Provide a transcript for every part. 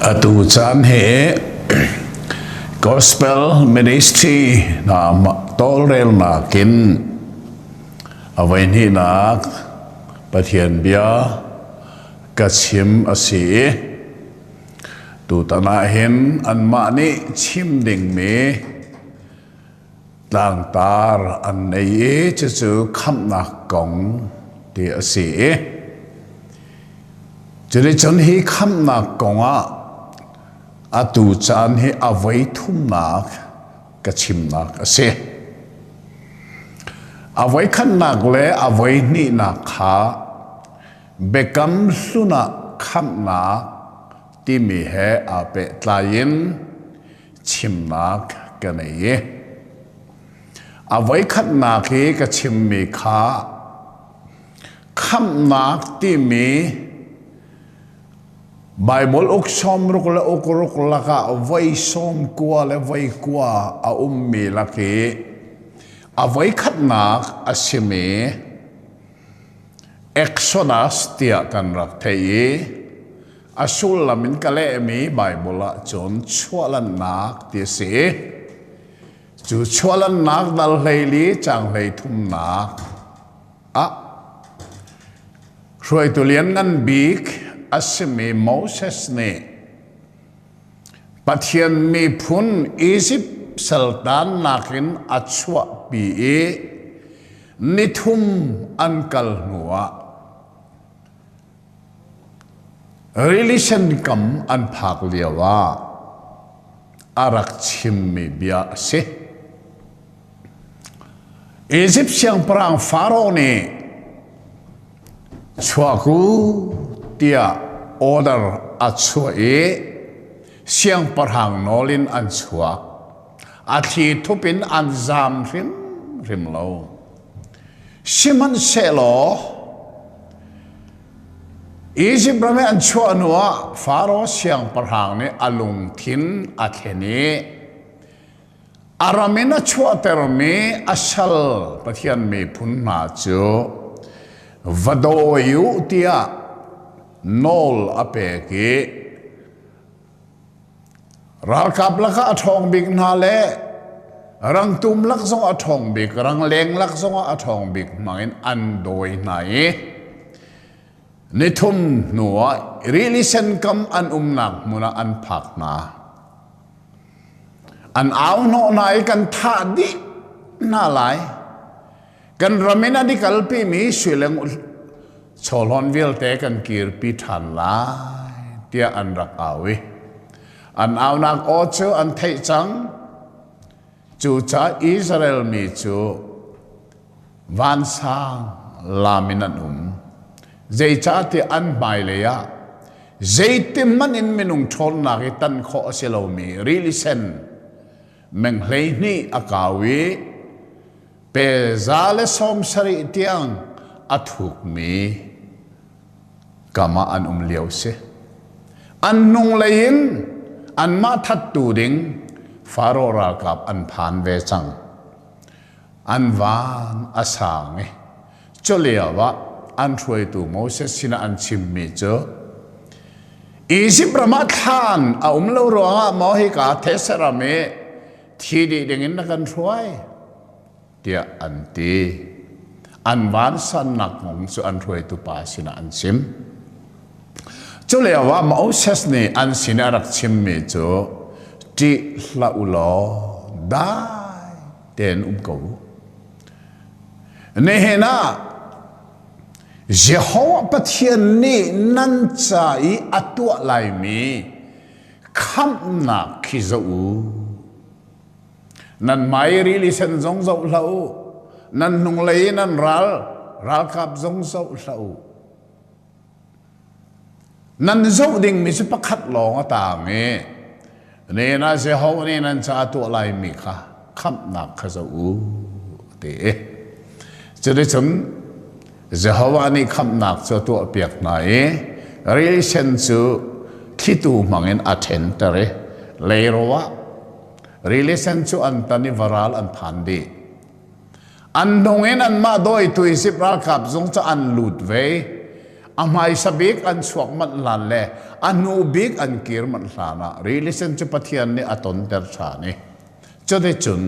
Atu caan hi Gospel Ministry na tawlrelnak in avaihnihnak Pathian bia ka chim a si i tutan ah hin anmah nih chim dingmi tlangtar an nei i cucu khamhnak kong ti a si i cunicun hi khamhnak kongah atu caan hi a voi thumnak ka chimnak a si a voi khatnak le a voi hnihnak kha biakam hlun ah khamhnak timi he aa pehtlai in chimnak ka nei i a voikhatnak i ka chimmi kha khamnak timi Bible uk som ruk le uk ruk lakah voi som kua le voi kua a ummi lak i a voikhatnak a simi Exodus tiah kan rak thei i A sullam in ka lehmi Baibal ah cun chuahlannak ti a si. Cu chuahlannak dal hleili cang hlei thumnak ah hruaitu lianngan bik a simi Moses nih Pathian miphun Izipt saltan nakin a chuahpi i nithum an kal hnuah Relation kam an phak lio ah a rak chimmi bia a si. Egypt siangpahrang Pharaoh nih chuak u tiah order a chuah i siangpahrang nawl in an chuak. A thli thup in an zam hrimhrim lo. Sihmanhsehlaw Izipt ram i an chuah hnuah Faro siangpahrang nih a lungthin a thlen i a ram in a chuahtermi a sal Pathian miphun hna cu va dawi u tiah nawl a pek i Ralkap lakah a ṭhawng bik hna le rangtum lak zongah a ṭhawng bik, rangleng lak zongah a ṭhawng bik hmangin an dawi hna i nithum hnuah rili sen kam an umnak hmun ah an phak hna. An au hnawh hna i kan thah dih hna lai. kan ram in a dik alpi mi suileng chawlhawn vialte kan kirpi ṭhan lai tiah an rak au i an aunak aw cu an theih cang cucaah Israel mi cu vansang lam in an um zeicahtiah an hmailei ah zeitim hmanh in minung ṭhawnnak i tan khawh a si lomi rili sen meng hlei hnih a kau i pe za le sawm sarih tiang a thukmi kam ah an um lio si an hnunglei in anmah thattu ding faro ralkap an phan ve cang an van a sang i culio ah an hruaitu Moses sinah an chimmi cu Izipt ram ah thlan a um lo ruangah maw hika theseram i thi dih dingin na kan hruai tiah an ti an vansannak kong cu an hruaitu pa sinah an chim culio ah Moses nih an sin a rak chimmi cu ṭih hlah u law dai tein um ko u nihin ah Jehovah Pathian nih nan ca i a tuah laimi khamhnak khi zoh u. Nan mai rili sen zong zoh hlah u. Nan hnunglei i nan ral ralkap zong zoh hlah u. Nan zoh dingmi si pakhat lawng a tang i, ne na si ho nih nan ca tuah laimi kha khamhnak kha zoh u te i cuticun Jehovah nih khamhnak cu a tuahpiak hna i rilsen cu thlitu hmangin a ṭhenter i leiro ah rilisen cu an tan i varal an phan dih. An hnung in anmah dawitu Isip ralkap zung cu an lut ve. A hmaisa bik an chuak manh hlan le a hnu bik an kir manh hlan ah rilisen cu Pathian nih a tonter ṭhan i Cuticun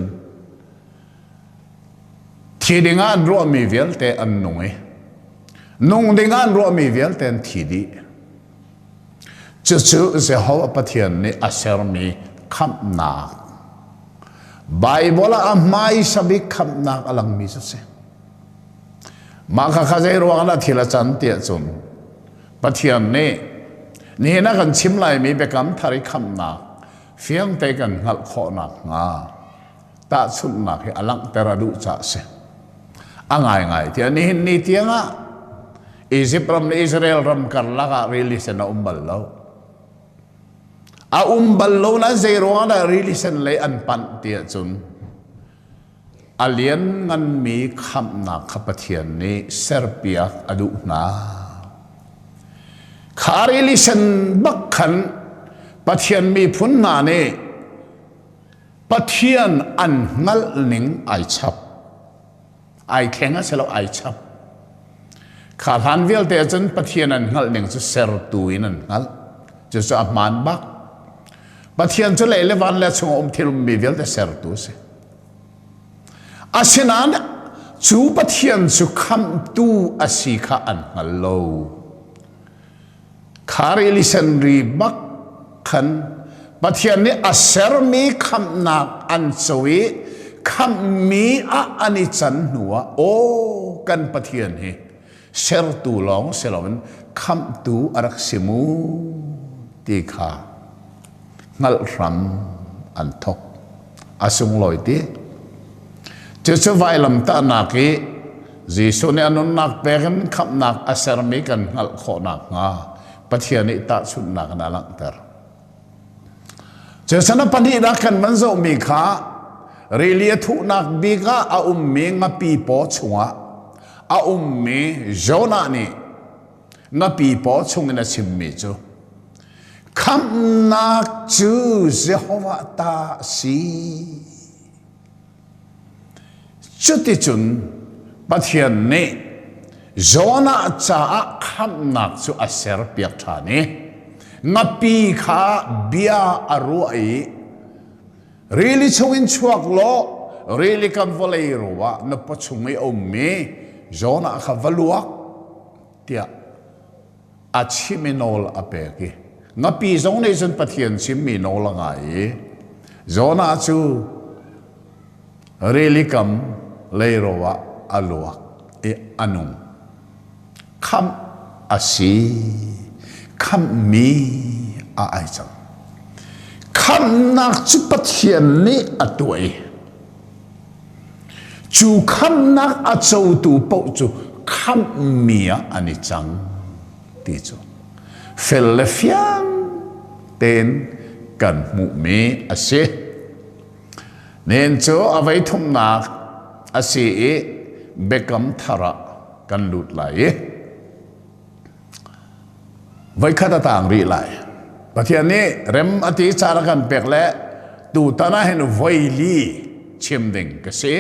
thi dingah an ruahmi vialte an nung i nung dingah an ruahmi vialte an thi dih. Cucu Jehovah Pathian nih a sermi khamhnak Baibal ah a hmaisa bik khamhnak a langmi cu a si. Mah kha kha zei ruangah dah thil a can tiah cun Pathian nih nihin a kan chim laimi biakam thar i khamhnak Fiangte kan hngalh khawh nakhnga tahchunhnak hi a langhter a duh caah a si. A ngaingai tiah nihin ni tiangah Egypt ram le Israel ram karlak ah rili sen a um bal lo. A um bal lo na zei ruangah dah rili sen lei an panh ti ahcun A liannganmi khamhnak kha Pathian nih serpiak a duh hna. Kha rilisen bak khan Pathian miphun hna nih Pathian an hngalh ning ai chap. Ai thleng a si lo, ai chap. Kha hlan vialte cun Pathian an hngalh ning cu sertu in an hngalh. Cucu a hmaan bak. Pathian cu lei le van le chung a um thilmi vialte sertu a si. Asinain cu Pathian cu khamtu a si kha an hngal lo. Kari Lisenri bak khan Pathian nih a sermi khamhnak an co i khamhmi ah an i can hnuah aw kan Pathian hi sertu lawng si loin khamhtu a rak si mu ti kha hngalh hram an thok a sunglawi ti cucu vailam tahnak i Jesuh nih a nunnak pek in khamhnak a sermi kan hngalh khawh nakhnga Pathian nih tahchunhnak in a langhter Cecena pahnihnak kan van zohmi kha rili a thuhnak bik ah a ummi ngapi paw chungah a ummi Jonah nih ngapi paw chungin a chimmi cu khamhnak cu Jehovah ta a si. Cuticun Pathian nih Jonah caah khamhnak cu a serpiak ṭhan i ngapi kha bia a ruah i rili chungin chuak law rili kan vawlei ro ah na pa chung i a ummi Jonah kha va luak tiah a chim i nawl a pek i ngapi zong nih cun Pathian chimmi nawl a ngai i Jonah cu rili kam leiro ah a luak i a nung khamh a si khamhmi a ai cang khamhnak cu Pathian nih a tuah i Cu khamnak a cotu paoh cu khamhmi ah an i cang ti cu fel le fiang tein kan hmuhmi a si. Nihin cu avei thumnak a si i Biakam thar ah kan lut lai i voikhat a tang rih lai pathian nih rem a ti car a kan pek le tutan ah hin voili chim ding ka si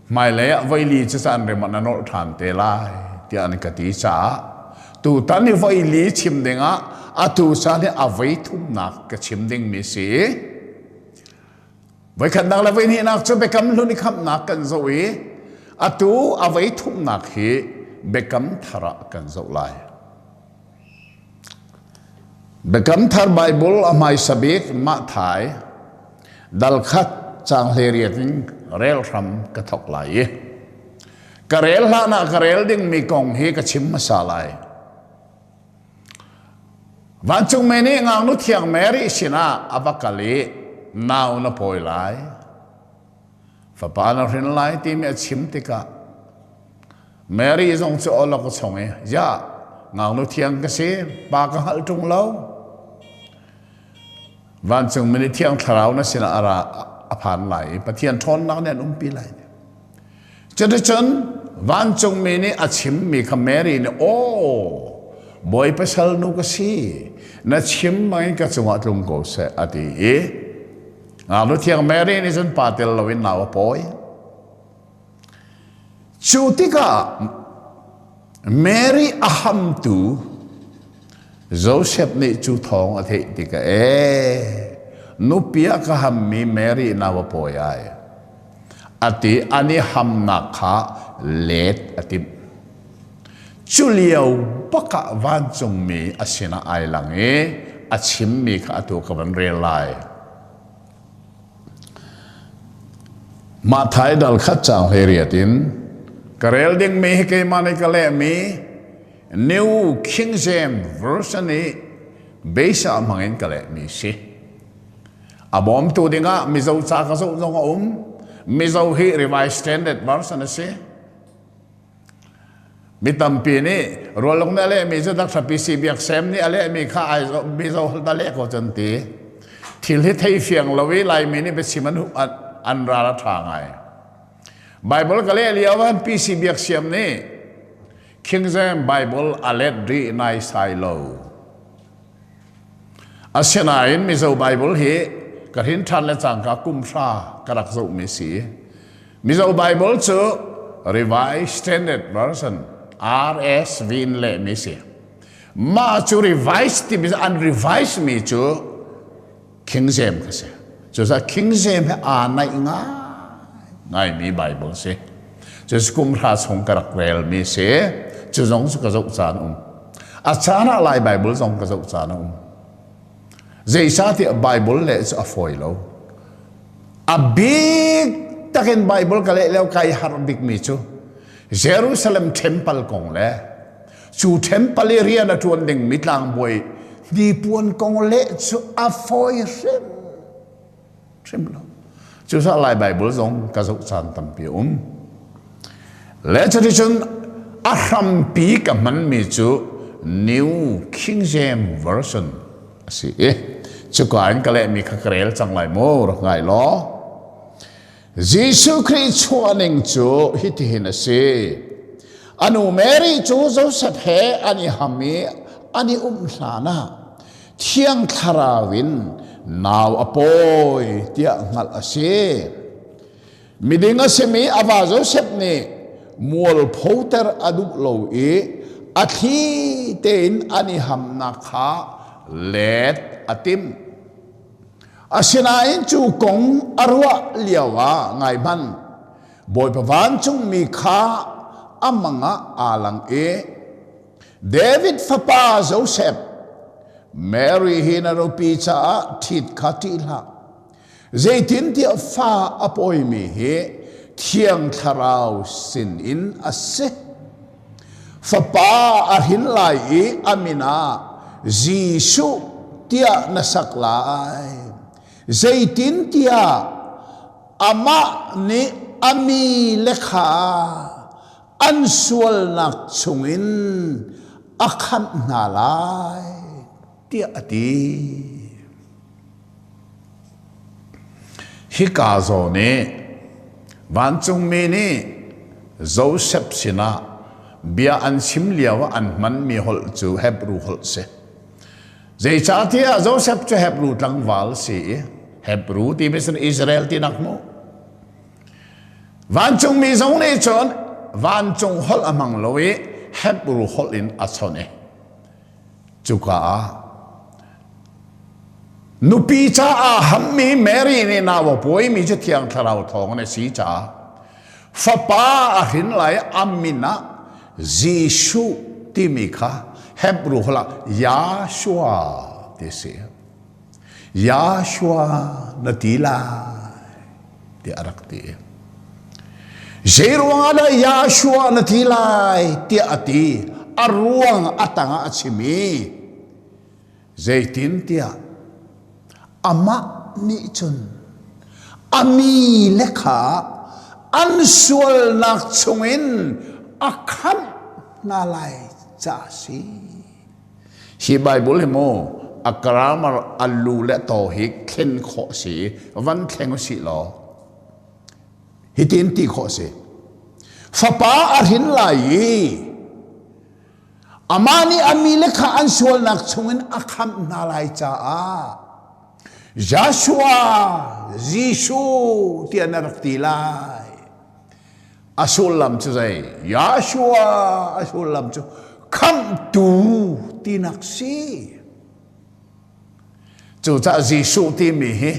hmailei ah voili cu caan rem an nawlh ṭhan te lai tiah an ka ti caah tutan i voili chim ding ah atu caan hi a voi thumnak ka chim dingmi si Voikhatnak le voihnihnak cu Biakam Hlun i khamhnak kan zoh i atu a vei thumnak hi Biakam Thar ah kan zoh lai. Biakam Thar Baibul a hmaisa bik Mathai dalkhat cang hleriat in rel hram ka thok lai i ka rel hlanah ka rel dingmi kong hi ka chim hmasa lai. Vancungmi nih ngaknu thiang Mary sinah a va kal i nau na pawi lai, fapa na hrin lai timi a chim tikah Mary zong cu awlok a chong i, Ya, ngaknu thiang ka si, pa ka hngalh ṭung lo. Vancungmi nih thiang thlarau na sinah a ra a phan lai i Pathian ṭhawnnak nih an umpi lai. Cuticun vancungmi nih a chimmi kha Mary nih aw bawi pasal nu ka si na chim bangin ka cungah tlung ko seh a ti i ngaknu thiang Mary nih cun pa tel loin nau a pawi cu tikah Mary a hamtu Joseph nih cu thawng a theih tikah ee nupi a ka hammi Mary nau a pawi ai a ti an i hamnak kha let a timh. Cu lio bak ah vancungmi a sinah ai lang i a chimmi kha atu ka van rel lai. Mathai dal khat caang hlei riat in ka rel dingmi hi keimah nih ka lehmi New King James Version i beisah hmangin ka lehmi si. a bawmtu dingah Mizo ca ka zoh zong a um Mizo hi revised standard version a si mi tampi nih rualung na lehmi cu dakthlapi si biak sem nih a lehmi kha ai Mizo da leh ko cun ti thil hi thei fiang lo i laimi nih biachim an an ral a ṭha ngai Bible ka leh lio an PC biak siam nih King James Bible a let rih nai sai lo Asinain Mizo Baibal hi ka hrinthan le cangka kumhra ka rak zohmi si. Mizo Baibal cu Revised Standard Version RSV in lehmi si. Mah cu revised timi an revise mi cu King James a si. Cucaah King James he aa naih ngaimi Bible si. Cu kum hra chung ka rak relmi si. Cu zong cu ka zoh caan um. A caan ah Lai Bible zong ka zoh caan um. Zeisahtiah Bible le cu a fawi lo. A big takin Bible ka leh leo kai har bikmi cu Jerusalem temple kong le Cu Temple rian a ṭuan dingmi tlangbawi hnipuan kong leh cu a fawi hrim hrim lo. Cusaah Lai Baibal zong ka zoh caan tampi a um. Le cuticun a hrampi ka hmanmi cu New King James Version a si i cuka in ka lehmi kha ka rel cang lai maw rak ngai law Jesuh Khrih chuahning cu hitihin a si. Anu Mary cu Joseph he an i ham i an i um hlan ah thiang thlarau in nau a pawi tiah hngalh a si. Miding a simi a va Joseph nih mualphoter a duh lo i a thli tein an i hamnak kha let a timh. Asinain cu kong a ruah lioah ngaihman Bawipa vancungmi kha a mangah aa lang i David fapa Josef Mary hi na rupi caah ṭhit kha ṭih hlah. Zeitintiah fa a pawimi hi Thiang Thlarau sinin a si. Fapa a hrin lai i a min ah Jesuh tiah na sak lai. Zeitintiah amah nih a mi le kha an sualnak chungin a khamh hna lai. tiah a ti. Hika zaw nih vancungmi nih Josef sinah bia an chim lio ah an hmanmi holh cu Hebru holh si. Zeicahtiah Josef cu Hebru tlangval si i Hebru ti bisin Israel ti nak mu. Vancungmi zong nih cun vancung holh a hmang lo i Hebru holh in a chon i Cuka ah nupi caah hammi Mary nih nau a puaimi cu thiang thlarau thawng an si caah fapa a hrin lai a min ah Jesuh timi kha Hebrew holh ah Yahshua ti a si. Yahshua na ti lai tiah a rak ti. Zeiruangah dah Yahshua na ti lai tiah a ti. A ruang a tangah a chim i zeitin tiah amah nih cun a mi le kha an sualnak chungin a khamh hna lai ca a si. Hi Baibal hi mu a grammar a lu le to hi thlen khawh si i van thleng u si law hitin ti khawh si fapa a hrin lai i amah nih a mi le kha an sualnak chungin a khamh hna lai caah Joshua Jesuh tiah na rak ti lai A sullam cu zei? Yahshua a sullam cu khamhtu tinak si. Cucah Jesuh timi hi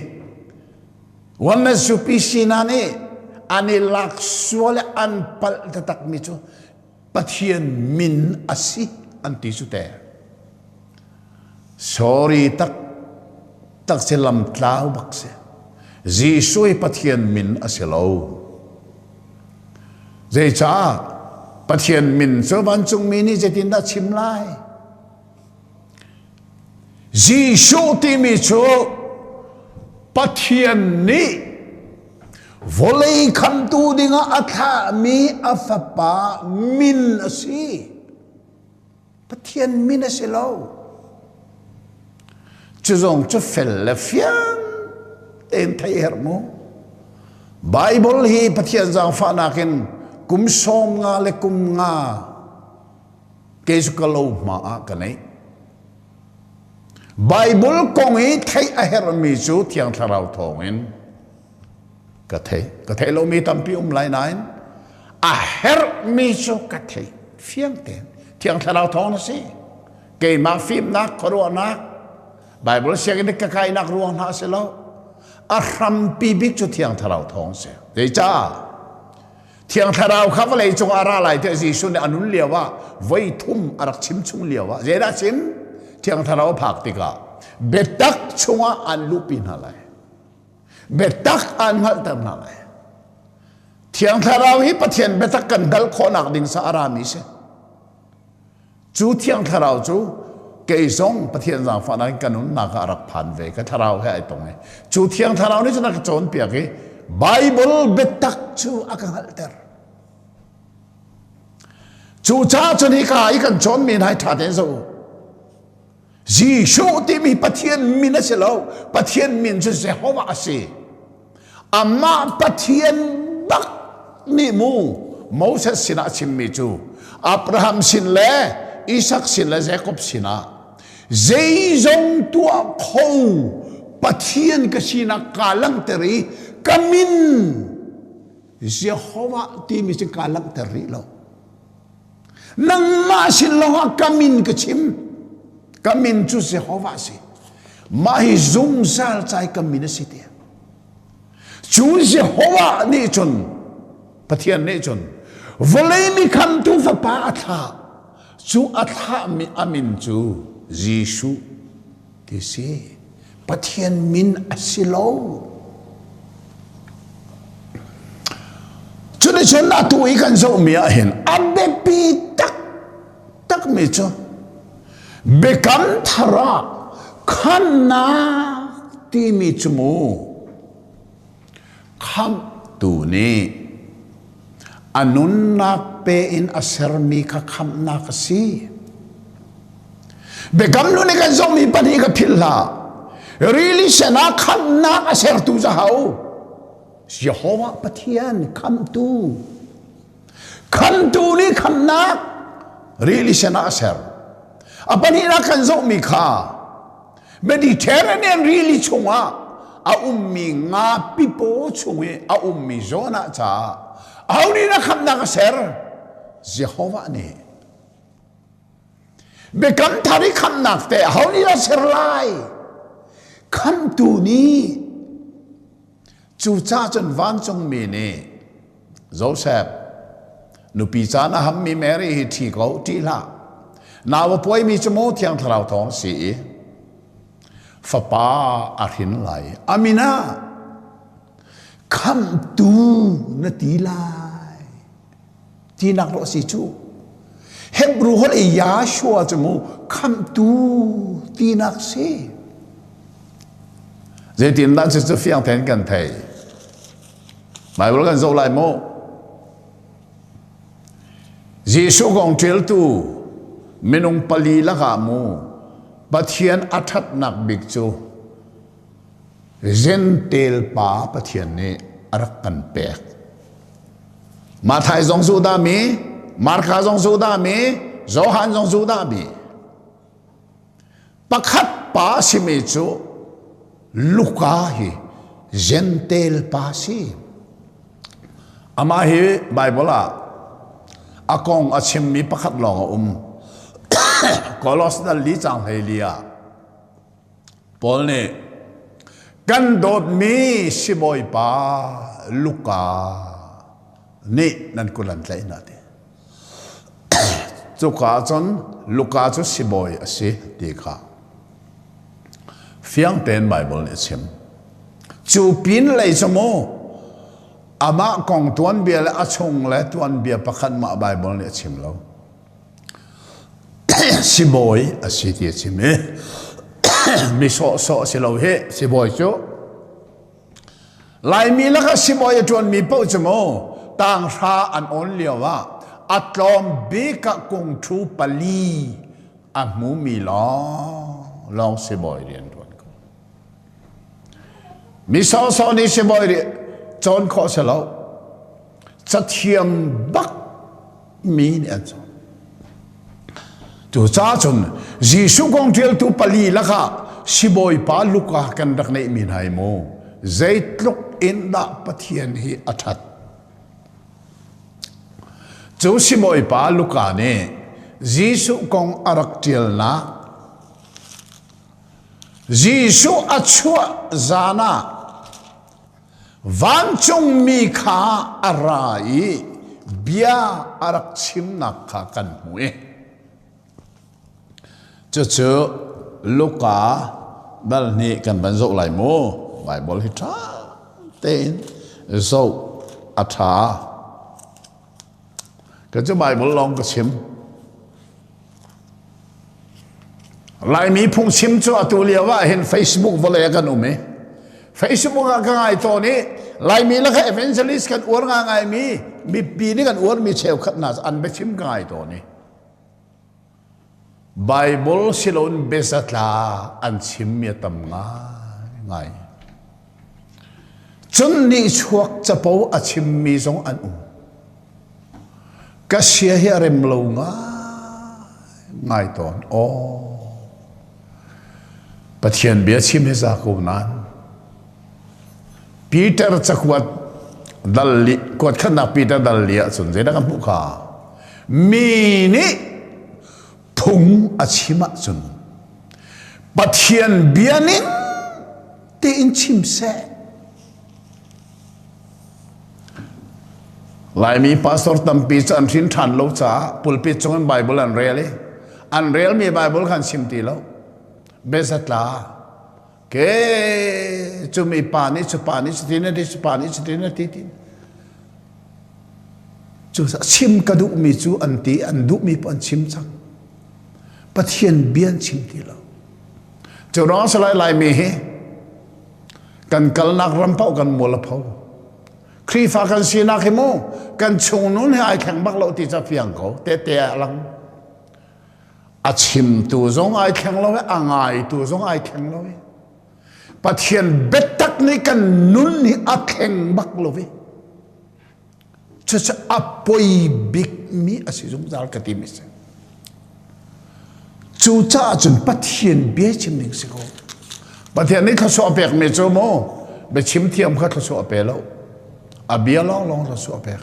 Wamasupi sina nih an i lak sual i an palh taktakmi cu Pathian min a si an ti cu te. Sorry tak tak se lam tlau bak se. Jesuh Pathian min a si lo. Zeicah Pathian min cu vancungmi nih zeitindah chim lai? Jesuh timi cu Pathian nih vawlei khamtu dingah a thlahmi a fapa min a si. Pathian min a si lo. Cu zong cu fel le fiang tein thei herh mu. Bible hi Pathian zaangfahnak in kum sawm nga le kum nga kei cu ka lo hma ah ka neih Baibal kong i theih a herhmi cu thiang thlarau thawngin ka thei ka thei lomi tampi um lai nain a herhmi cu ka thei fiang tein thiang thlarau thawng na si keimah fimnak khuaruahnak Baibal sianginn ka kainak ruang hna si lo a hrampi bik cu thiang thlarau thawng si zeicah Thiang Thlarau kha vawlei cung ah ra lai tiah Jesuh nih a nun lio ah voi thum a rak chim chung lio ah zeidah chim? Thiang Thlarau a phak tikah biatak chungah aan luhpi hna lai. Biatak aan hngalhter hna lai. Thiang Thlarau hi Pathian biatak kan dal khawhnak ding sa a rami si. Cu thiang thlarau cu kei zong Pathian zaangfahnak in ka nunnak ah a rak phan ve ka thlarau he ai tong i cu thiang thlarau nih cun a ka cawnpiak i Bible biatak cu a ka hngalhter cucaah cun hika i kan cawnmi nai ṭha tein zoh u Jesuh timi Pathian min a si lo. Pathian min cu Jehovah a si. Amah Pathian tak nih mu Moses sinah a chimmi cu Abraham sin le Isak sin le Jakob sinah zeizong tuah kho Pathian ka sinak kaa langhter i ka min Jehovah timi cu kaa langhter rih lo. Nangmah sin lawngah ka min ka chim. Ka min cu Jehovah si. Mah hi zungzal cai ka min a si tiah. Cu Jehovah nih cun Pathian nih cun vawlei mi khamtu fapa a thlah. Cu a thlahmi a min cu Jesuh ti si. Pathian min a si lo. Cunicun atu i kan zohmi ah hin a biapi taktakmi cu biakam thar ah khannak timi cu mu Khamhtu nih a nunnak pe in a sermi kha khamhnak a si. Biakam nu nih kan zongmi pahnih ka philh hlah. Rili senah khamhnak a sertu zahau. Jehovah Pathian khamtu. Khamtu nih khamhnak rili senah a ser. A pahnih kan zongmi kha Mediterranean rili chungah a ummi ngapi paw chung i a ummi Jonah caah ahonih na khamhnak a ser? Jehovah nih biakam thar i khamhnak te ahonih dah ser lai? Khamhtu nih Cucah cun vancungmi nih, Josef, nupi caan a hammi Mary hi ṭhi ko, ṭi hlah. Nau a puaimi cu maw Thiang Thlarau thawng a si i fapa a hrin lai. Amin ah khamhtu na ti lai. tinak rawh si cu hebru hol i yashua cu mu khamtu tinak si zeitindah cucu fiang then kan thei Bible kan zoh lai mu Jesuh kong ṭeltu minung pali lakah mu Pathian a ṭhatnak bik cu Gentel pa Pathian nih a rak kan pek. Mathai zong zu dah mi, Marka zong zu dah mi, Johan zong zu dah mi. Pakhat pa simi cu Luka hi Gentel pa si. Amah hi Bible ah a kong a chimmi pakhat lawng a um. Colossians li cang hlei li ah Paul nih kan dawtmi sibawipa Luka nih nan kul an tlaih hna ti. Cuka ah cun Luka cu sibawi a si ti kha fiang tein Baibal nih a chim. Cu pin lei cu mu amah kong tuanbia le a chung le tuanbia pakhat mah Baibal nih a chim lo. sibawi a si ti a chim i mi sawhsawh si lo hi sibawi cu laimi laka sibawi a ṭuanmi paoh cu maw tanghra an awn lio ah a tlawm bika kung ṭhu pali a hmumi lawng lawng sibawi rian ṭuan ko mi sawhsawh nih sibawi cawn khawh si lo cathiam bak mi nih an cawn cucaah cun Jesuh kong ṭialtu pali lakah sibawipa Luka kan rak neihmi hna hi mu zeitluk in dah Pathian hi a ṭhat cu sibawipa Luka nih Jesuh kong a rak ṭialnak Jesuh a chuah zan ah Vancungmi kha a ra i bia a rak chimnak kha kan hmu i cucu Luka dal hnih kan van zoh lai mu Baibal hi ṭha tein zoh a ṭha. Ka cu Baibal lawng ka chim. Laimi phungchim cu atu lio ah hin Facebook vawlei ah kan um i Facebook ah ka ngai tawn i Laimi le ka evangelist kan uar nga ngaimi mipi nih kan uarmi cheukhat hna an biachim ka ngai tawn i Baibal siloin biazatla an chimmi a tam ngaingai. Cun nihchuak capo a chimmi zong an um. Ka sia hi a rem lo ngai tawn. Aw, Pathian bia chim hi za ko nan. Peter cakuat dal li kuat khatnak Peter dal li ahcun zeidah kan hmuh kha mi nih phung a chim ahcun Pathian bia ning tiin chim seh Laimi pastor tampi cu an hrin ṭhan lo caah pulpit chung in Bible an rel i an relmi Bible khan chim ti lo. Bezatla ke cumi pa nih cupa nih cutin a ti cupa nih cutin a ti ti cu chim ka duhmi cu an ti an duhmi pun chim cang pathian bian chim ti lo cu rang salai laimi hi kan kalnak ram pau kan mual a pho khrifa kan sinak hi mu kan chung nun hi ai thleng bak lo ti ca fiang ko te te a lang a chimtu zong ai thleng lo i a ngaitu zong ai thleng lo i pathian biatak nih kan nun hi a thleng bak lo i cucaah a poi bikmi a si zungzal ka ti mi si cucaah cun pathian bia chim ning si ko pathian nih thluachuah pekmi cu mu biachim thiam kha thluachuah pe lo a bia lawnglawng cu a pek.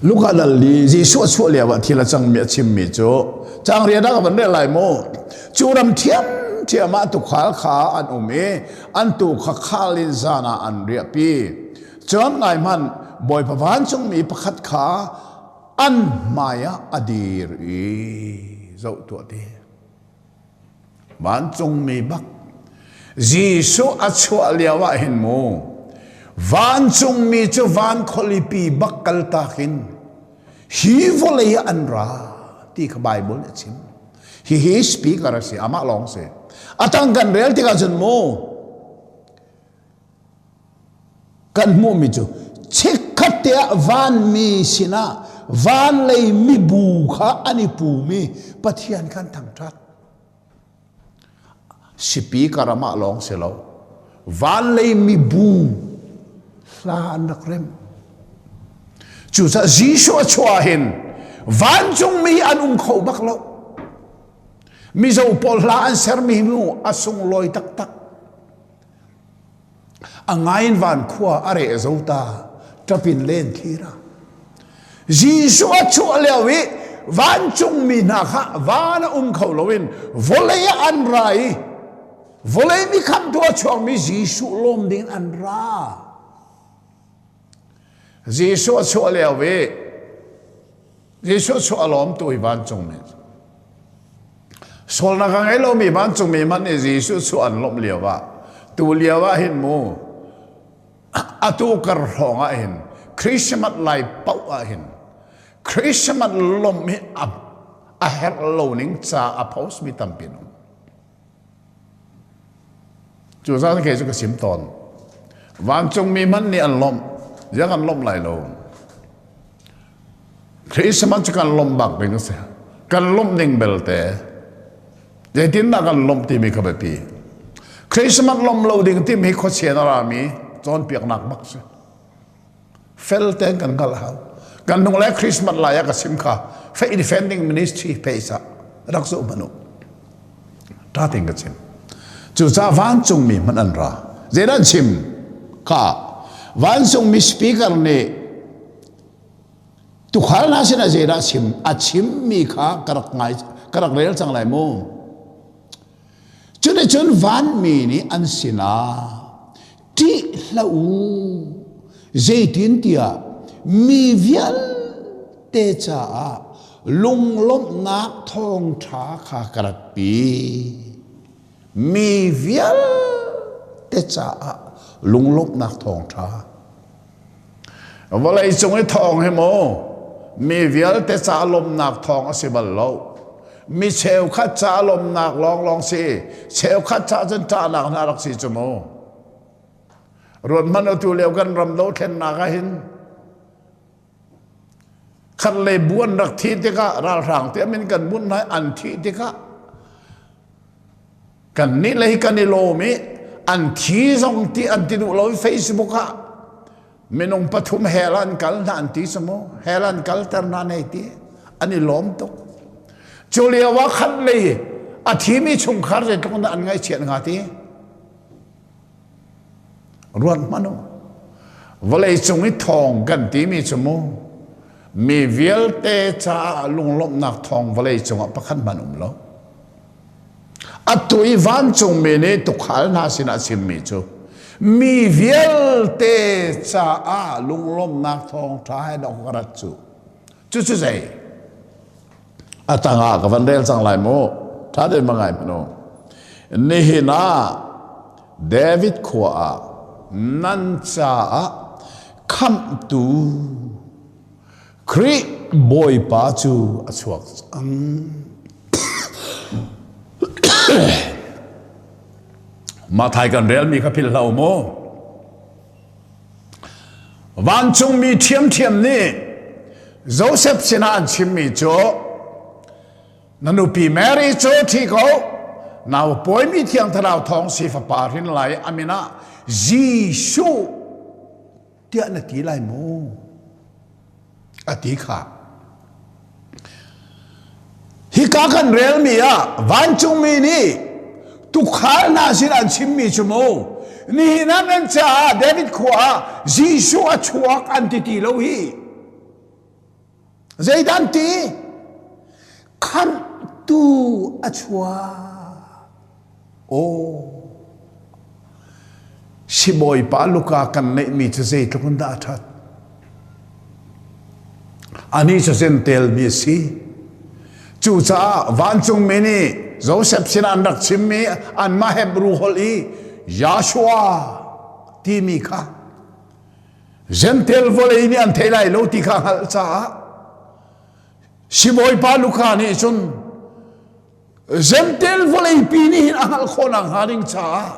Luka dal i Jesuh a chuah lio ah thil a cangmi a chimmi cu cangria dah kan rel lai mu cu ram thiamthiam ah tukhal kha an um i an tu kha khal in zan ah an riahpi cun ngai hman bawipa vancungmi pakhat kha an hmai ah a dir i zoh tuah ti Vancungmi bak Jesuh a chuah lio ah hin mu vancungmi cu van khualipi bak kaltak in hi vawlei ah an ra ti kha Bible nih a chim hihi speaker a si amah lawng si a tang kan rel tikah cun mu Kan hmuhmi cu chikkhat te ah vanmi sinah van lei mibu kha an i pumi Pathian kan thangṭhat. Sipi ka ram ah lawng si lo, van lei mibu hla an rak rem. Cucah Jesuh a chuah hin vancungmi an um kho bak lo. Mizo pawl hla an sermi nu a sunglawi taktak. A ngain van khua a re zo ta ṭapin len thlira Jesuh a chuah lio i vancungmi hna kha van a um kho loin vawlei ah an ra i vawlei nih khamtu a chuakmi Jesuh lawm ding an ra. Jesuh a chuah lio i Jesuh chuah lawm tu hi vancungmi sualnak a ngei lomi vancungmi hmanh nih Jesuh chuah an lawmh lio ah tu lio ah hin mu atu kar hrawng ah hin Christmas lai poh ah hin Christmas lawmh hi a, a herh lo ning ca a post mi tampi an um. Cu zan khe cu ka sim tawn. Vancungmi hmanh nih an lawmh, ziang an lawmh lai lo. Christmas cu kan lawmh bak ding a si. Kan lawmh ning belte, zeitindah kan lawmh timi kha biapi. Christmas lawmh lo ding timi hi khuasien a rami cawnpiaknak bak si. fel tein kan hngalh hau kan lung le christmas lai a ka sim kha fei defending ministry peisa rak zu manu ta tin ka chim cu sa vancung mi man an ra zedan chim ka vancung mi speaker nih tukhal na sin a zeda sim a chim mi kha ka rak ngai ka rak rel chang lai mu cune cun van mi nih an sinah ṭih hlah u. Zeitintiah mi vialte caah lunglawmhnak thawngṭha kha ka ratpi. Mi vialte caah lunglawmhnak thawngṭha Vawleicung i thawng hi maw mi vialte ca lawmnak thawng a si bal lo. Mi cheukhat ca lawmnak lawnglawng si, cheukhat ca cun ṭahnak hna rak si cu mu. Ruanhman otu lio kan ram dothlennak ah hin khat le buan rak thi tikah ralhrang tiam in kan bunh lai an thih tikah Kannih lei kan i lawm i an thi zong ti an ti duh lo i Facebook ah minung pathum hell an kal hna an ti si mu hell an kalter hna nei ti an i lawm tuk cu lio ah khat lei a thimi chungkhar zeitluk dah an ngaihchiat hnga ti ruat hmanh u vawleicung i thawng kan timi cu mu mi vialte caah lunglawmhnak thawng vawlei cungah pakhat hmanh um lo atu i vancungmi nih tukhal hna sinah chimmi cu mi vialte caah lunglawmhnak thawng ṭha he rak rat cu Cucu zei? A tangah ka van rel cang lai mu. Ṭha tein ma ngai manu. Nihin ah David khua ah nan caah khamhtu Khrih Bawipa cu a chuak cang. Mathai kan relmi kha philhlo mu. Vancungmi ṭhiamṭhiam nih Josef sinah an chimmi cu na nupi Mary cu ṭhi ko, nau pawimi Thiang Thlarau Thawng si fapa hrin lai a min ah Jesuh tiah na ti lai maw? a ti kha hika kan relmi ah vancungmi nih tukhal hna sin an chimmi cu mu nihin ah kan caah David khua ah Jesuh a chuak an ti ti lo hi zeidan ti khamtu a chuak Aw, sibawipa luka kan neihmi cu zeitluk in dah a ṭhat. Anih cu Zentelmi a si. Cucaah vancungmi nih Josef sinah an rak chimmi anmah Hebrew holh i Yahshua timi kha Gentel vawlei nih an theih lai lo ti kha hngalh caah sibawipa Luka nih cun Zentail vawleipi nih hin a hngalh khawhnak hnga ding caah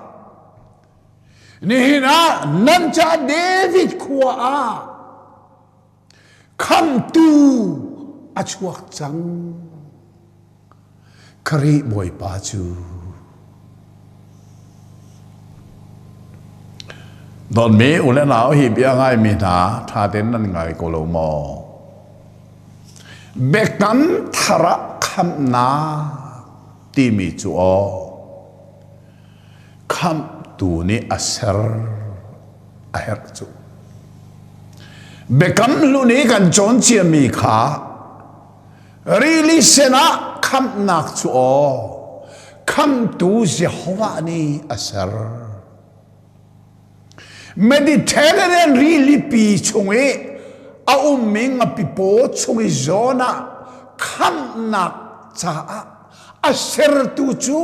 nihin ah nan caah David khua ah khamtu a chuak cang Khrih Bawipa cu Dawtmi u le nau hi bia ngaimi hna ṭha tein nan ngai ko lo maw? Biakan thar ah khamhnak timi cu aw khamhtu nih a ser a herh cu. Biakam hlun i kan cawn ciami kha Rili sinah khamhnak cu aw, khamtu Jehovah nih a ser. Mediterranean rilipi chung i a ummi ngapi paw chung i zawn ah khamhnak caah a sertu cu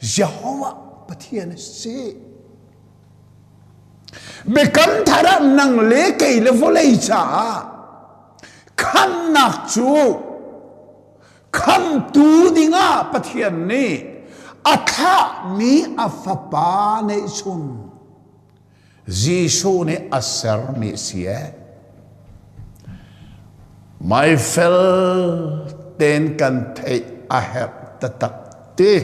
Jehovah Pathian a si. Biakam thar ah nang le kei le vawlei caah khamnak cu khamtu dingah Pathian nih a thlahmi a fapa neihchun Jesuh nih a sermi si e. Mai fel ten kan theih a herh taktak ti.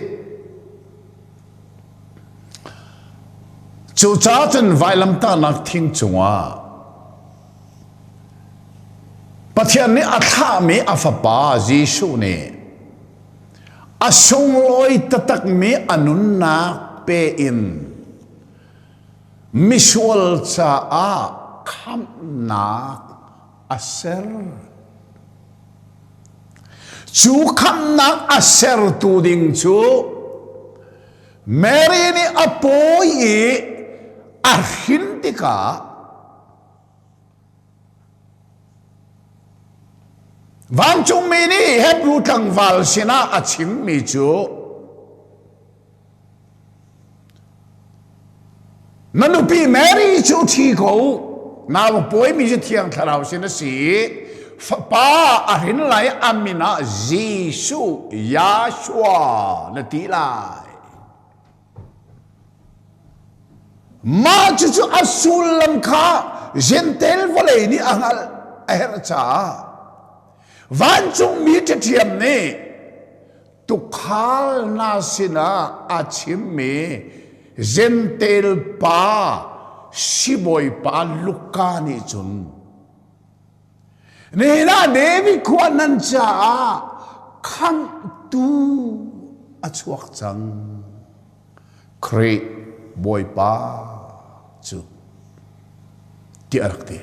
Cucaah cun vailamtahnak thing cungah Pathian nih a thlahmi a Fapa Jesuh nih a sunglawi taktakmi a nunnak pe in misual caah khamhnak a ser. Cu khamnak a sertu ding cu Mary nih a pawi i a hrin tikah vancungmi nih Hebrew tlangval sinah a chimmi cu Na nupi Mary cu thi ko. Nau pawimi cu Thiang Thlarau sin a si. Fapa a hrin lai a min ah Jesuh, Yahshua na ti lai. Mah cucu a sullam kha Gentel vawlei nih a hngalh a herh caah vancungmi ṭhathiam nih tukhal hna sinah a chimmi Gentel pa sibawipa Luka nih cun Nena David khua nan caah khangtu a chuak cang Khrih Bawipa cu ti a rak ti.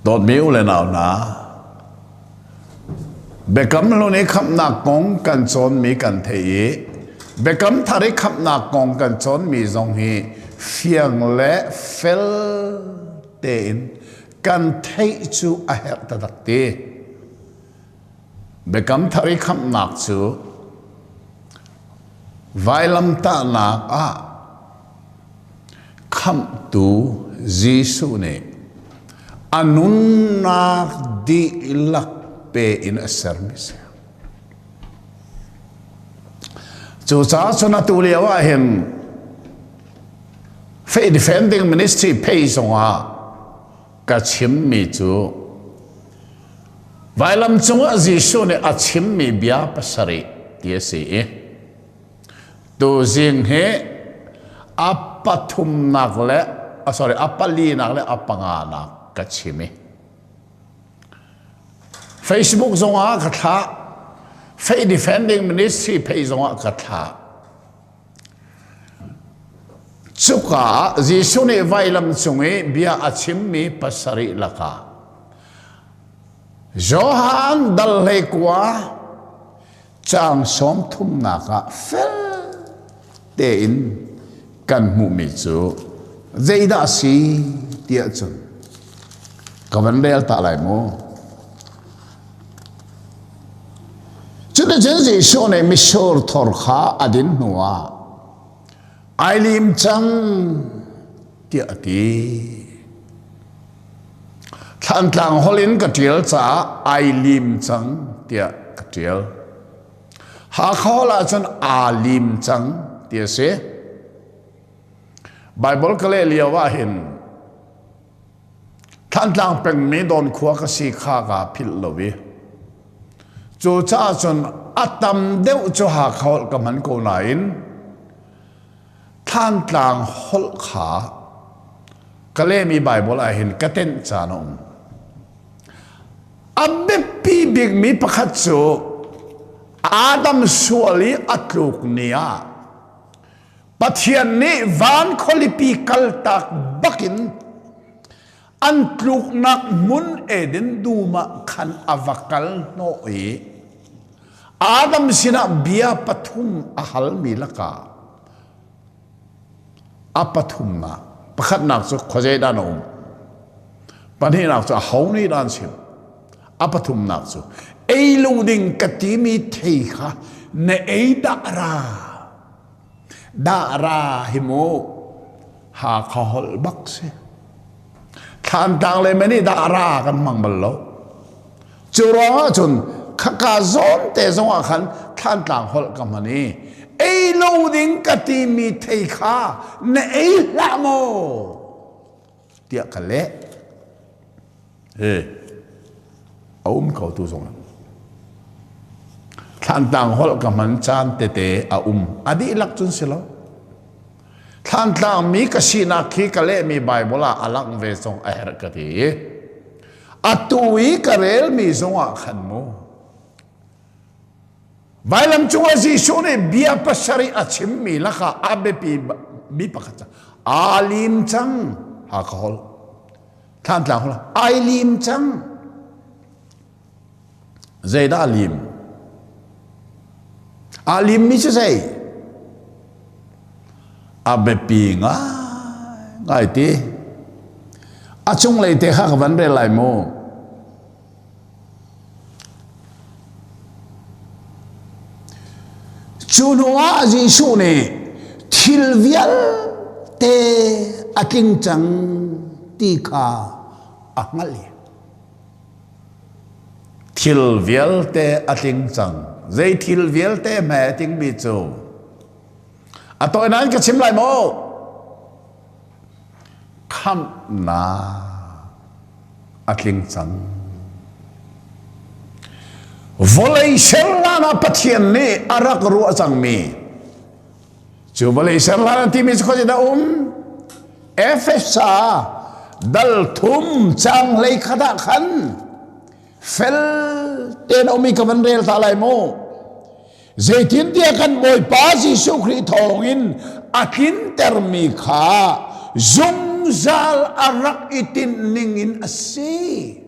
Dawtmi u le nau hna, Biakam hlun i khamhnak kong kan cawnmi kan theih i Biakam thar i khamhnak kong kan cawnmi zong hi fiang le fel tein kan theih cu a herh taktak ti. Biakam Thar i khamhnak cu vailamtahnak ah Khamhtu Jesuh nih a nunnak dihlak pe in a sermi a si. Cucaah cun atu lio ah hin Faith Defending Ministry pei zongah ka chimmi cu vailam cungah Jesuh nih a chimmi bia pasarih ti a si i tuzing hi a pathumnak le a sorry a palinak le a panganak ka chim i Facebook zongah ka thlah Fake Defending Ministry pei zongah ka thlah Cuka ah Jesuh nih vailam cung i bia a chimmi pasarih lakah Johan dal hlei kua caang sawm thumnak ah fel tein kan hmuhmi cu zeidah a si tiah cun ka van rel ta lai maw? Cuticun Jesuh nih mitsur thor kha a din hnuah ai lim cang tiah a ti. Thlantlang holh in ka ṭial caah ai lim cang tiah ka ṭial. Hakha holh ahcun aa lim cang ti a si. Baibal ka leh lio ah hin Thantlang pengmi Dawnkhua ka si kha ka philh lo i cucaah cun a tam deuh cu Hakha holh ka hman ko nain Thantlang holh kha ka lehmi Baibal ah hin ka tenh caan a um. A biapi bikmi pakhat cu Adam sual i a tluk ni ah Pathian nih van khualipi kaltak bakin an tluknak hmun Eden dum ah khan a va kal hnawh i Adam sinah bia pathum a halmi lakah a pathumnak pakhatnak cu khuazeidah na um pahnihnak cu aho nih dah an chim a pathumnak cu ei lu ding ka timi thei kha na ei dah ra Dahra hi mu Hakha holh bak si. Thlantlang le me nih dahra kan hmang bal lo. Cu ruang ah cun khaka zawn te zong ah khan Thlantlang holh ka hman i ei lo ding ka timi thei kha na ei hlah maw tiah ka leh he a um kho tu zong thlantlang holh ka hman caan tete a um a dihlak cun si lo thlantlang mi ka sinak khi ka lehmi bible ah a lang ve zong a herh ka ti atu i ka relmi zongah khan mu Vailam cung ah Jesuh nih bia pasarih a chimmi lakah a biapi mi pakhat cu aa lim cang ha ka hol thlantlang hol ai lim cang zeidah a lim aa lim mi cu zei a biapi ngai ngai ti a cunglei te kha ka van rel lai maw Cu hnuah Jesuh nih thil vialte a tling cang ti kha a hngalh i thil vialte a tling cang zei thil vialte hme a tlingmi cu a tawi nan ka chim lai maw khamhnak a tling cang. Vawlei serlan ah Pathian nih a rak ruah cangmi cu vawlei serlan an timi khuazet a um Efesa dal thum cang lei khat ah khan fel tein a ummi ka van rel ta lai mu Zeitintiah kan Bawipa Jesuh Khrih thawngin a tlintermi kha zungzal a rak i tinhning in a si.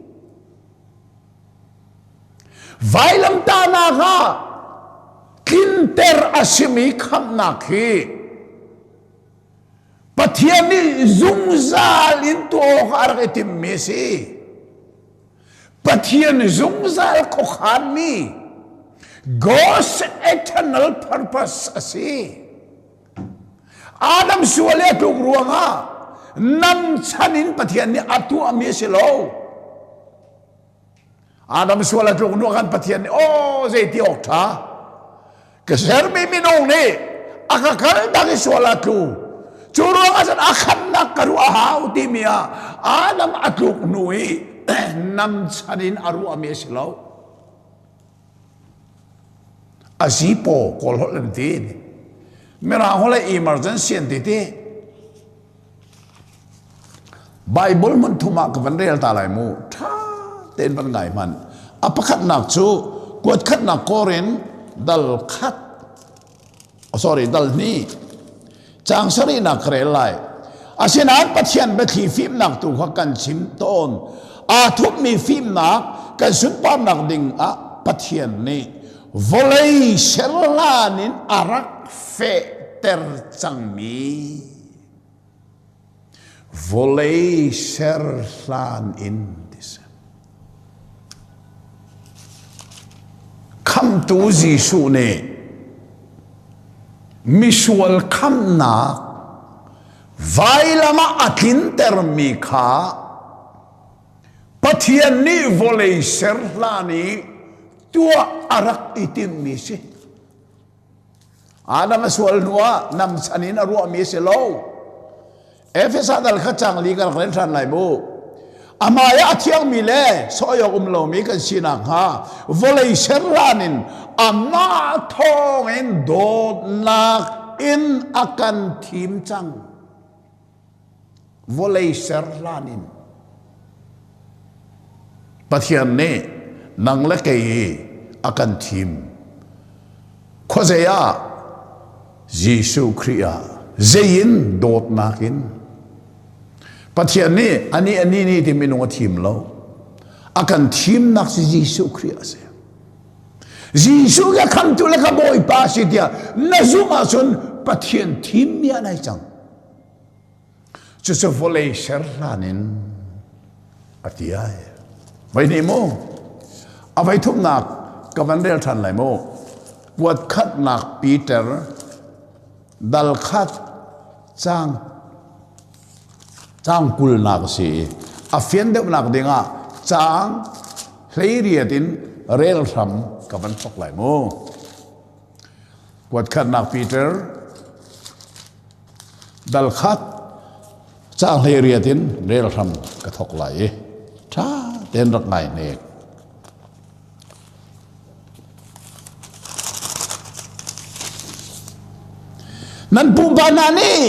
Vailamtahnak ah tlinter a simi khamhnak hi Pathian nih zungzal in tuah awk a rak i timmi a si. Pathian zungzal khuakhanmi God's eternal purpose a si. Adam sual a tluk ruangah nam chan in Pathian nih a tuahmi a si lo. Adam sual a tluk ruangah Pathian nih aw oh, zeiti awk tha ka sermi minung nih a ka kaltak i sual a tlu cu ruangah cun a khatnak ka ruah a hau timi ah Adam a tluk hnu i nam chan in a ruahmi a si lo azipo kawl holh an ti mirang holh emergency an ti ti Baibal hmunthum ah ka van rel ta lai mu. Ṭha tein van ngai hman. A pakhatnak cu kuat khatnak kor in dal khat sorry dal hnih caang sarihnak ka rel lai asinain pathian biathli fimnak tu kha kan chim tawn aa thupmi fimnak kan sunparnak ding ah pathian nih vawlei serlan in a rak fehter cangmi Vawlei ser hlan in ti si. Khamtu Jesuh nih misual khamnak vailam ah a tlintermi kha Pathian nih vawlei ser hlan i tuah a rak i timmi si. Adam a sual hnuah nam chan in a ruahmi a si lo. Efesa dal kha changli ka rak len ṭhan lai mu. Amah i a thiangmi le sawyawk um lomi kan si nakhnga vawlei ser hlan in amah thawng in dawtnak in a kan thim cang. Vawlei ser hlan in Pathian nih nang le kei hi a kan thim. Khuazei ah? Jesuh Khrih ah. Zei in dawtnak in. Pathian nih ani ani ni ti minung a thim lo. A kan thimnak si Jesuh Khrih a si. Jesuh ke khamtu le ka Bawipa si tiah na zumh ahcun Pathian thim mi nai cang. Cucu vawlei ser hlan in a ti ai. Vai ni mu, a vai thumnak ka van rel ṭhan lai mu. Kuat khatnak Peter, dal khat cang cang kulnak si i a fian deuhnak dingah cang hleiriat in rel hram ka van thok lai mu. Kuatkhatnak Peter dalkhat cahleriat in rel hram ka thok lai i ṭha tein rak ngai nek. Nan pupa hna nih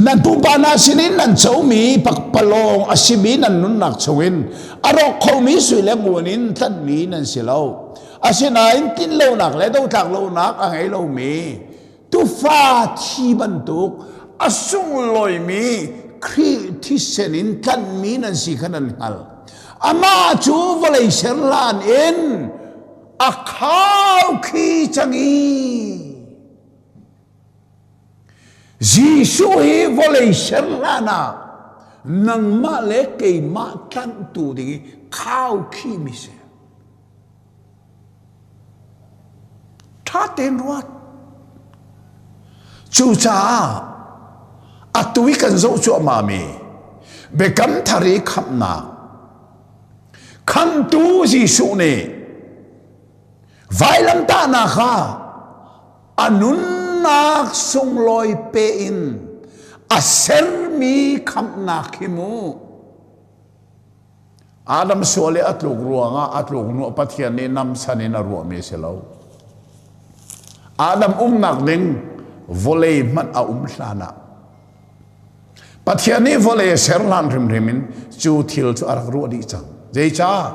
nan pupa hna sinin nan comi pakpalawng a simi nan nunnak chungin a rawk khomi sui le ngun in tlanhmi nan si lo. Asinain tinlonak le dotlak lonak a ngei lomi tufa thi bantuk a sunglawimi Khrih thisen in tlanhmi nan si kha nan hngal. Amah cu vawlei ser hlan in a khau khi cangi. Jesuh hi vawlei ser hlan ah nangmah le keimah tlanhtu ding i khau khi mi si. ṭha tein ruat. Cucaah atu i kan zoh cuahmah mi Biakam Thar i khamhnak Khamhtu Jesuh nih vailamtahnak kha a nunnak sunglawi pe in a sermi khamhnak hi mu. Adam sual i a tluk ruangah a tluk hnu Pathian nih namsan in a ruahmi a si lo. Adam umnak ding vawlei hmanh a um hlan ah Pathian nih vawlei a ser hlan hrimhrim in cu thil cu a rak ruah dih cang. Zeicah?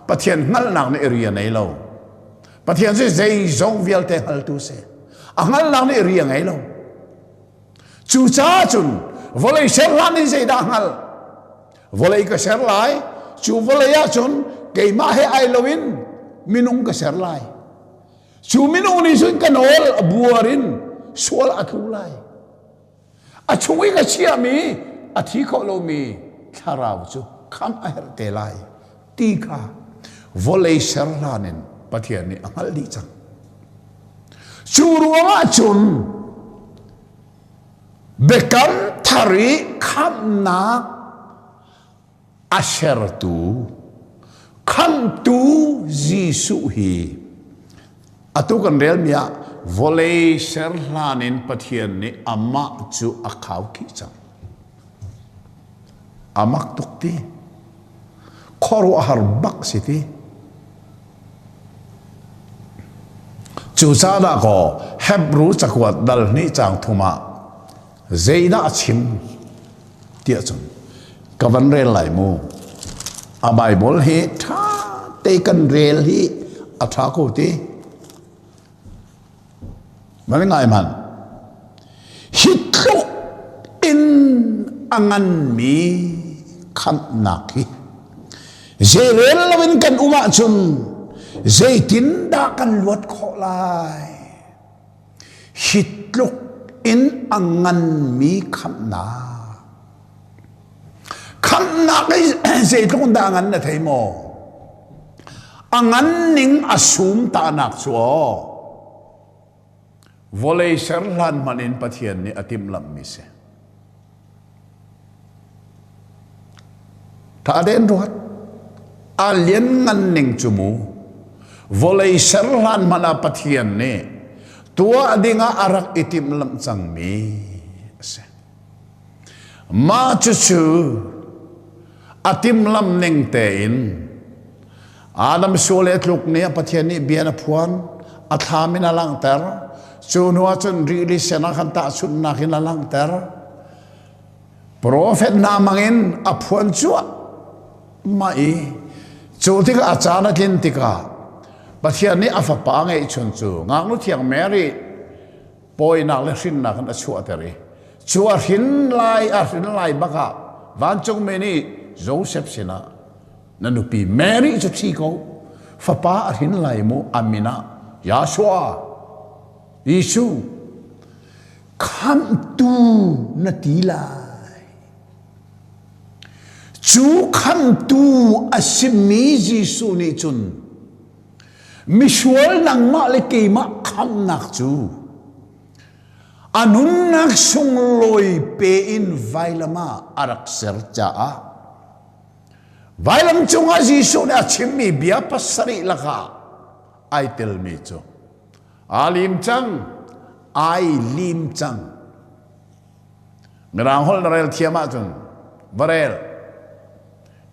Pathian hngalhnak nih ri a nei lo. Pathian cu zeizong vialte hngaltu si. A hngalhnak nih ri a ngei lo. Cucaah cun vawlei ser hlan in zeidah hngal? vawlei ka ser lai cu vawlei ah cun keimah he ai loin minung ka ser lai cu minung nih cun ka nawl a buar in sual a tlu lai a chung i ka chiahmi a thi kho lomi thlarau cu khamh a herh te lai ti kha vawlei ser hlan in Pathian nih a hngalh dih cang cu ruangah cun biakam thar i khamhnak a sertu khamhtu Jesuh hi atu kan relmi ah vawlei ser hlan in Pathian nih amah cu a khau khih cang A mak tuk ti. Khuaruahhar bak si ti. Cucaah kaw Hebrew cakuat dal hnih cang thum ah zeidah a chim tiah cun ka van rel lai mu. A Bible hi ṭha te kan rel hi a ṭha ko ti. Ngaingai hman. Hi tluk in a nganmi khamhnak hi zeirel loin kan um ahcun zeitindah kan luat khawh lai? Hi tluk in a nganmi khamhnak Khamhnak zeitluk in dah ngan na thei maw? A ngan ning a sum ta'nak cu aw vawlei ser hlan hmanh in Pathian nih a timhlamhmi si. Tha den ruat. A lian ngan ning cu mu. Vawlei ser hlan hmanh ah Pathian nih tuah dingah a rak i timhlamh cangmi a si. Mah cucu a timlam ning tein Adam sual le tluk nih Pathian nih bia a phuan a thlam in a langhter cu hnu ah cun rili sen ah khan tahchunhnak in a langhter profet hna mangin a phuan cuah mah i cu tikah caan a tlin tikah Pathian nih a fapa a ngeih chun cu ngaknu thiang Mary pawinak le hrinnak in a chuahter i cu a hrin lai a hrin lai bak ah vancungmi nih Josef sinah na nupi Mary cu thi ko fapa a hrin lai mu amin ah Yahshua Jesuh khamhtu na ti lai cu khamhtu a simi Jesuh nih cun Misual nangmah le keimah khamnak cu a nunnak sunglawi pe in vailam ah a rak ser caah vailam cungah Jesuh nih a chimmi bia pasarih lakah ai telmi cu aa lim cang ai lim cang Mirang holh na rel thiam ahcun va rel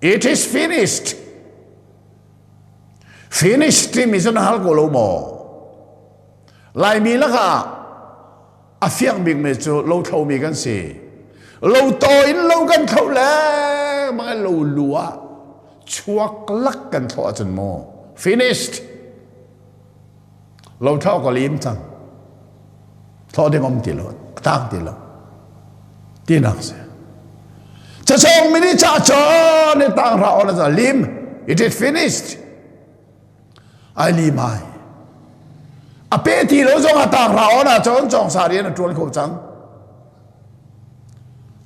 It is finished Finish timi cu na hal ko lo maw? Laimi lakah a fiak bikmi cu lo thlomi kan si. Lo to in lo kan thlo lengmang lo lu ah chuak lak kan thlo ahcun maw? Finished. lo thlah awk a liim cang thlawh ding um ti lo a tang ti lo tinak si cachawng mini cha chon ni tang ra on za lim it is finished ai lim ai a pe ti lo zong a tang ra on a chon chong sari na tul ko cang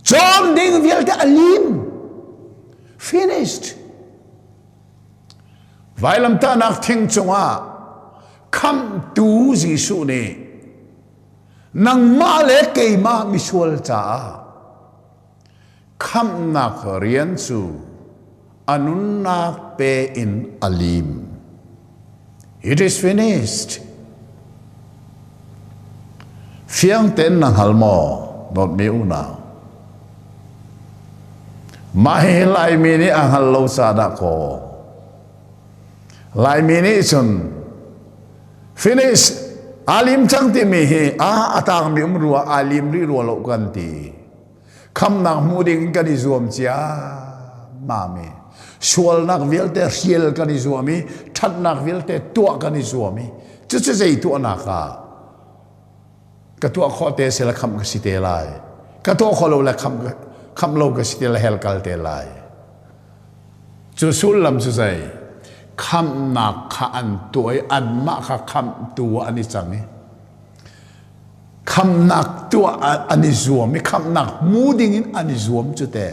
chon ding vialte a lim finished Vailamtahnak thing cungah Khamhtu Jesuh nih nangmah le keimah misual caah khamhnak rian cu a nunnak pe in a lim. It is finished. Fiang ten na hngal maw? Dawt mi unau. Mah hi Laimi nih a hngal lo sa dah kaw. Laimi nih cun finish alim cang timi hi a atang mi um rua alim ri rua lo kan ti. khamnak hmuh ding kan i zuam ciammam i sualnak vialte hrial kan i zuam i ṭhatnak vialte tuah kan i zuam i cucu zei tuahnak ah ka tuah khawh te sela khamh ka si te lai ka tuah khawh lo le khamh khamh lo ka si te le hel kal te lai cu sullam cu zei khamhnak kha an tuah i anmah kha khamhtu an i cang i khamnak tuah an i zuam i khamnak hmu dingin an i zuam cu te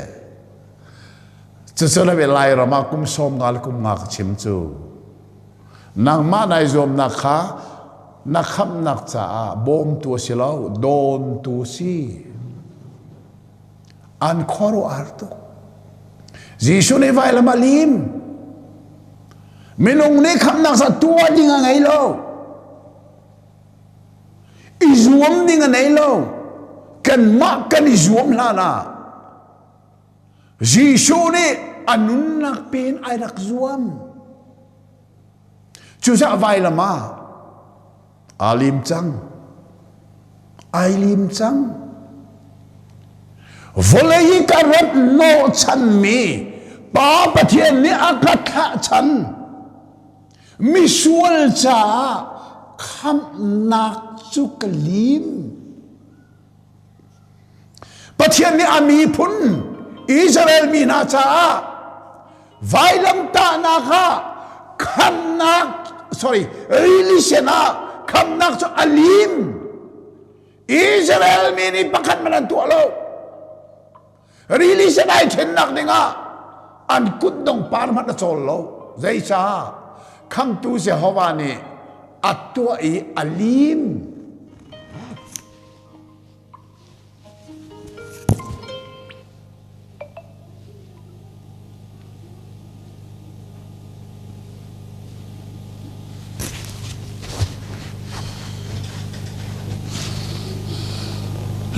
cucu le lairam ah kum sawm nga le kum nga ka chim cu nangmah nai zuamnak kha na khamnak caah bawmtu si lo dawntu si an khuaruahar tuk Jesuh nih vai lama lim minung nih khamnak sa tua ding a ngei lo I zuam ding a nei lo. Kanmah kan i zuam hlan ah Jesuh nih a nunnak pen ai rak zuam. Cucah vailam ah aa lim cang. Ai lim cang. Vawlei hi ka rat nawh chanmi Pa Pathian nih a ka thlah chan. Misual caah khamhnak cu ka lim. Pathian nih a miphun Israel mi hna caah vailamtahnak ah khamnak sorry religion ah khamnak cu a lim. Israel mi nih pakhat man an tuah lo. rili sinai ṭhennak dingah an kutdong par hmanh a cawl lo zeicah khangtu Jehovah nih a tuah i a lim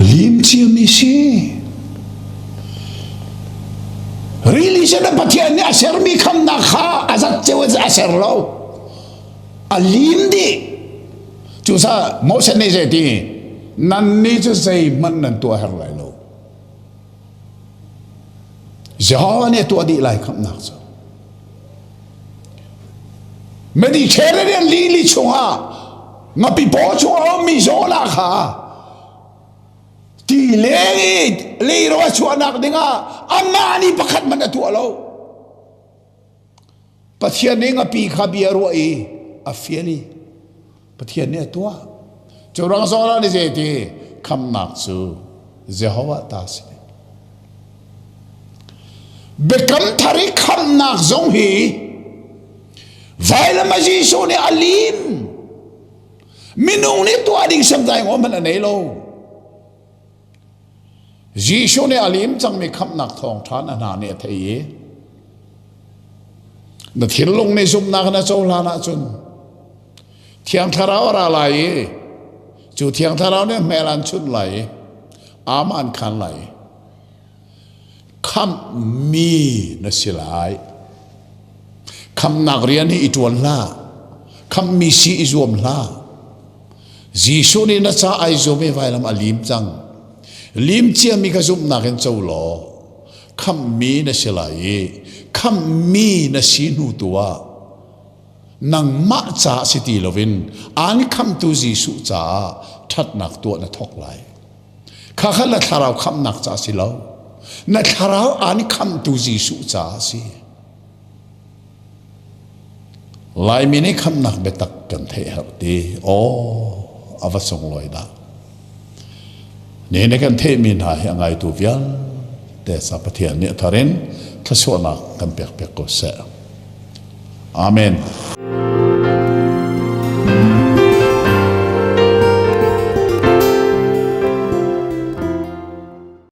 Limciami si. Religion a Pathian nih a sermi khamnak kha a zat ceu a ser lo. A lim dih. Cu sa Moses nih zei ti nan ni cu zei hmanh nan tuah her lai lo. Jehovah nih a tuah dih lai khamhnak cu. Mediterranean lili chungah ngapi paw chung a ummi Zola kha ti leng i leiro a chuahnak dingah anmah nih pakhat hmanh a tuah lo. Pathian nih ngapi kha bia a ruah i a fial i Pathian nih a tuah. Cu rang zawnah ni zeiti khamnak cu Jehovah ta a si. Biakam thar i khamnak zong hi vailam ah Jesuh nih a lim. Minung nih tuah ding hriamtlai ngawh hmanh a nei lo. Jesuh nih a liim cangmi khamhnak thawngṭha na hna nih a theih i na thinlung nih zumhnak na cohlan ahcun Thiang Thlarau a ra lai i cu Thiang Thlarau nih hmel an chunh lai i aam an khan lai. Khamhmi na si lai. Khamhnak rian hi i ṭuan hlah. Khamhmi si i zuam hlah. Jesuh nih na ca ai zuam i vailam a lim cang. Lim ciami kha zumhnak in co law khamhmi na si lai i khamhmi na si hnu tu ah nangmah ca si ti loin aan khamhtu Jesuh caah ṭhatnak tuah na thawk lai. Kha kha na thlarau khamhnak ca a si lo. Na thlarau an khamhtu Jesuh ca a si. Laimi nih khamhnak biatak kan theih herh ti. Aw, a va sunglawi dah. Ne ne kan theihmi hna hi a ngaitu vialte sa Pathian nih a thar in thluasuahnak kan pekpiak ko seh. Amen.